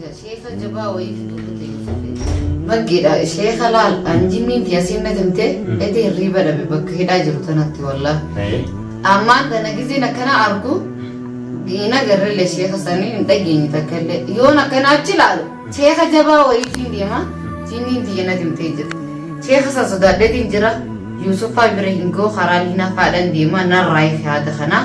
Jaa sheeka jabaa wayii fiduu kutee Yusufi. Maggiidha sheeka laal an jinniin tiyya siin natti himte eti hirriiba dhabe bakka hidhaa jiru tanatti wallah. Ee. Ammaan tana gizeen akkana argu hin agarrelle sheeka sanii hin dhageenye takka illee yoon akkana achi laalu sheeka jabaa wayiitiin deema jinniin tiyya natti himtee jira. Sheeka san sodaadheetiin jira Yuusufaa bira hin goo karaa liinaa faadhan deema narraa yaada kanaa.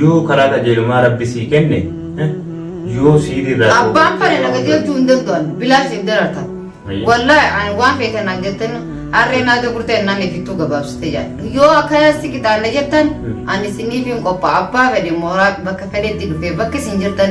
Yoo karaa qajeelumaa rabbi sii kenne yoo siiri irraa dhowwate Abbaan fedhe na qajeelchuu hin danda'an bilaashiif darartan. Ayya. Wallaahi ani waan feetan naan jettan harreen haada gurtee ennaan ifittuu gabaabsite jedha. Yoo akkanaa si qixaanna jettan ani isiniif hin qophaa'a abbaa fedhe mooraa bakka fedhetti dhufee bakka isin jirtan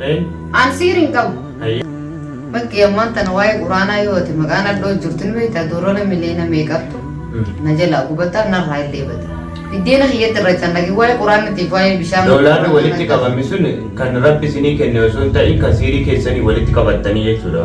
Ayi. An siiri hin qabu. Ayi. Bakki ammaan tana waa'ee quraanaa yoo ati maqaa nadhoo jirtu ni beektaa doolaara miliyoona meeqattu na jalaa gubataa narraa illee bada. Biddeena kiyyatti irra cannaqi waa'ee quraanatiif waa'ee bishaan. Doolaarri walitti qabame sun kan rabbi isinii kenne osoo hin ta'in kan siirii keessanii walitti qabattanii jechuudha.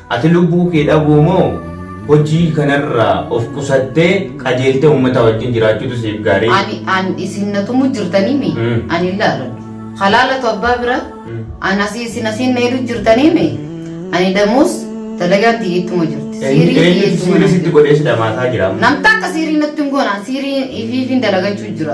Ati lubbuu kee dhabuu moo hojii kanarraa of qusattee qajeeltee ummataa wajjin jiraachuutu siif gaarii? Ani an isin na tumu jirtanii mi? Mm. Ani hin laaladhu. Halaalatu abbaa bira Mm. an asii isin asiin na hidhu jirtanii mi? Ani damuus dalagaan tiyya ittuma jirti. Siirii Eenyu- tiyya Eenyutu ittuma siirii naan sitti jirti. godhee si dhamaasaa jira? Namta akka siirii natti hin goonaan siirii ifiifiin dalagachuu jira.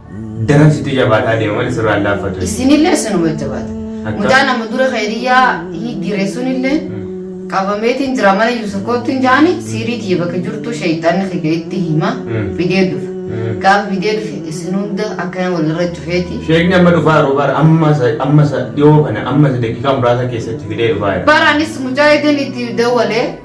Daran sitti jabaataa deema malee sirraa hin laaffatu. Isinillee isinuma jabaata. Akka- Mucaa nama dura kheeriyyaa higgire sunillee qabameetiin jira mana Yusuf kootti hin jaani siirii tiyya bakka jirtu sheeyxanni kiyya itti hima Mm. fidee dhufa. Mm. Gaafa fidee dhufe isin hunda akkana walirra cufeeti. Sheekni amma dhufaa yeroo bara amma sa- amma sa- dhiyoo kana amma sa daqiiqaa muraasa keessatti fidee dhufaa jira. Baraanis mucaa ideen itti dawwalee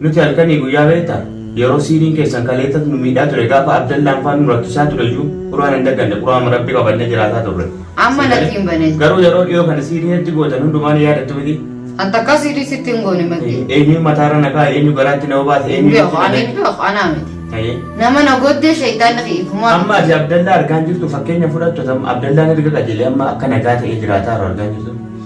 Nuti halkanii guyyaa beektaa yeroo siiriin keessan kaleessas nu miidhaa ture gaafa abdallaan faan nu rakkisaa ture iyyuu quraan hin dagganne quraama rabbi qabannee jiraataa turre. Amma Sii natti galee? hin bane. Garuu yeroo dhiyoo kana siirii hedduu gootan hundumaa ni yaadattu miti. An takkaa siirii sitti hin goone maddii. Eenyu mataarra na kaa'e eenyu garaatti na obaase Hin eenyu beeku ani hin beeku anaa miti. Ayyee. Nama na goddee shayitaanni hiikumaa. Amma ati abdallaa argaan jirtu fakkeenya fudhattu tam abdallaan erga qajeelee amma akka nagaa ta'ee jiraataa jiru argaan jirtu.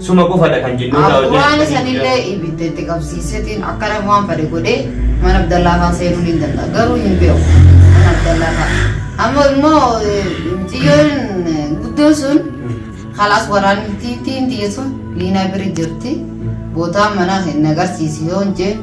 Suma qofadha kan jinnoota wajjin Abdurraan itti isanillee hidhan. ibidda itti qabsiisetiin akka nama waan fade godhee mana Abdallaafaa seenuu ni danda'a. Garuu hin beeku mana Abdallaafaa. Amma immoo eh, xiyyoon eh, guddoon sun kalaas waraanni tiin xiyya sun liinaa biri jirti. Bootaan manaa hin agarsiisi yoo hin jee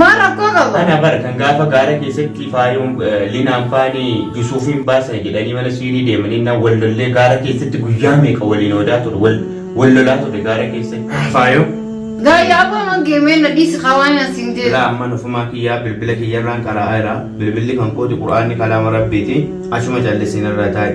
Maal rakkoo qaba? Ana bara kan gaafa gaara keessatti faayoon eh, linaan faanii Yusuufiin baasan jedhanii mana siirii deemanii na wal lollee gaara keessatti guyyaa meeqa waliin odaa ture wal wal lolaa ture gaara keessatti faayoo. Gaayyaa abbaa mangee mee na dhiisi hawaan as hin deemu. Ilaa amman ofumaa kiyyaa bilbila kiyyarraan qara'aa jira bilbilli kan kooti quraanni kalaama rabbiiti achuma callisiin irraa taa'e.